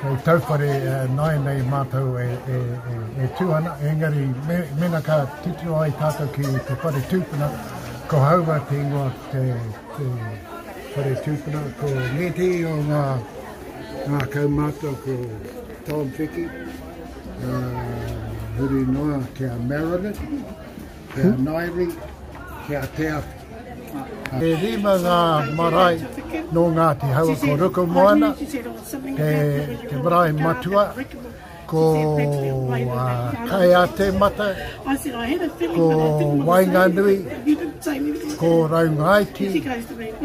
Hei tauwhare nāi nei mātou e, e, e, e tū ana, engari me, mena ka titiro ai tātou ki te whare tūpuna, ko haua te ingoa te, te whare tūpuna, ko Neti o ngā, ngā kaumātua ko Tom Whiki, uh, huri noa ki a Meredith, Ki a Nairi, ki a Te Awhi. E rima ngā marae nō Ngāti Hau, ko Rukumoana, te, te marae matua, ko uh, Kaiatemata, ko Wainganui, ko Raungaiti,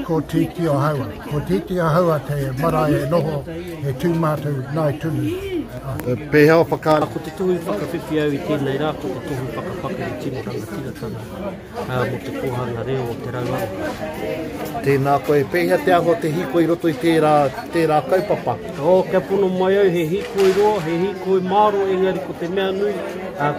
Ko Titi o Haua. Ko Titi o Haua te marae e noho e tū mātou nāi tunu. E pēhea o whakaara? Ko te tohu i whakawhiwhi au i tēnei rā ko te tohu whakapakari tino rangatiratanga mō te kōhanga reo o Te Rauawa. Tēnā koe. E pēhea te anga o te hīkoi i roto i tērā, tērā kaupapa? Oh, kia pono mai au, he hīkoi roa, he hīkoi māro, engari ko te mea nui,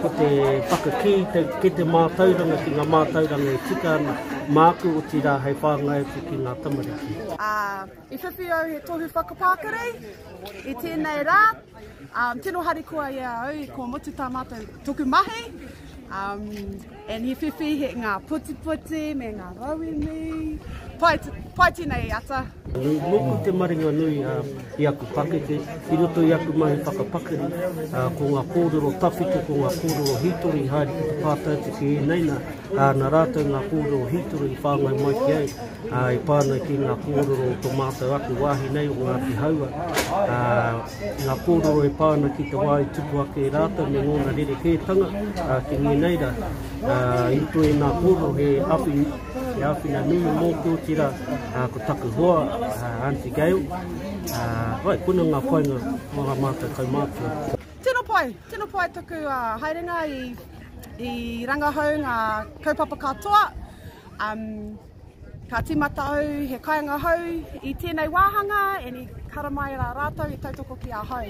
ko te whakakī, kei te mātauranga ki ngā mātauranga e tika ana. Māku, otirā hei whāngai atu ki ngā tamariki. Ā, i whiwhi au he tohu whakapākari i tēnei rā. Ā, tino harikoa i a au i kua mutu tā mātou toku mahi. Ā, and he whiwhi he ngā putiputi me ngā rauemi. Pai, pai tēnei ata. Nōku te maringa nui ā, i aku pakeke, i roto i aku mahi whakapakari, ā, ko ngā kōrero tawhito, ko ngā kōrero hītori haere ki te pātai te kē, nei nā, ā, nā rātou ngā kōrero hītori i whāngai mai ki au, ā, i pā ana ki ngā kōrero o tō mātou ake wāhi nei o Ngāti Haua, ā, ngā kōrero e pā ana ki te wā i tupu ake e rātou me ngōna rerekētanga, ā, ki ngēnei rā, ā, i roto i ngā kōrero he awhi, he āwhina nui mōku otirā, ā, ko taku hoa, ā, Aunty Gail, ā, wai, kona ngā whainga o ā mātou kaumātua. Tino pai, tino pai taku haerenga i I rangahau ngā kaupapa katoa, um, ka timata au he kainga hau i tēnei wāhanga, and i karamai rā rātou i tautoko ki a hau.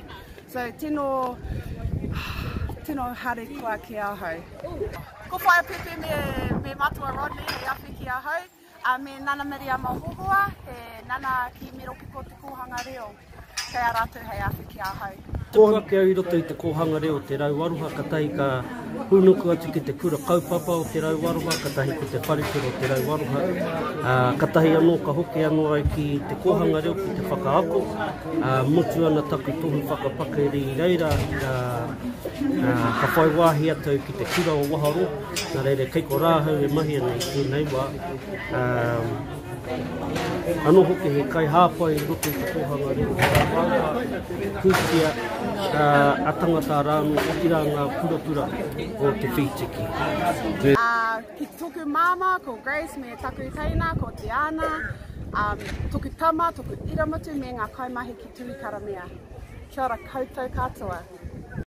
So, tino, tino hare kua ki a hau. Ko Whaea Pepe me, me Matua Rodney hei awhi ki a hau. A me Nana Miriama Hohoa, he nana ki Miropiko te kōhanga reo, kei a rātou hei awhi ki ahau. Tupu ake au i roto i te kōhanga reo Te Rau Aroha katahi ka hūnuku atu ki te kura kaupapa o Te Rau Aroha katahi ko te wharekura o Te Rau Aroha ā, katahi anō ka hoki anō au ki te kōhanga reo ki te whakaako ā, mutu ana taku tohu whakapakari i reira ā, ā, ka whai wāhi atu au ki te kura o Waharoa. Nā reira, kei ko rā ahau e mahi ana i tēnei wā. Ano hoki he kai hāpai i roto i te kōhanga reo whakapāpā, kūtia a tangata rāno, ki rā ngā purapura o te whītiki. Uh, ki toku māmā, ko Grace, me taku teina, ko Diana, um, toku tama, toku iramatu, me ngā kaimahi ki Tūikaramea. Kia ora koutou katoa.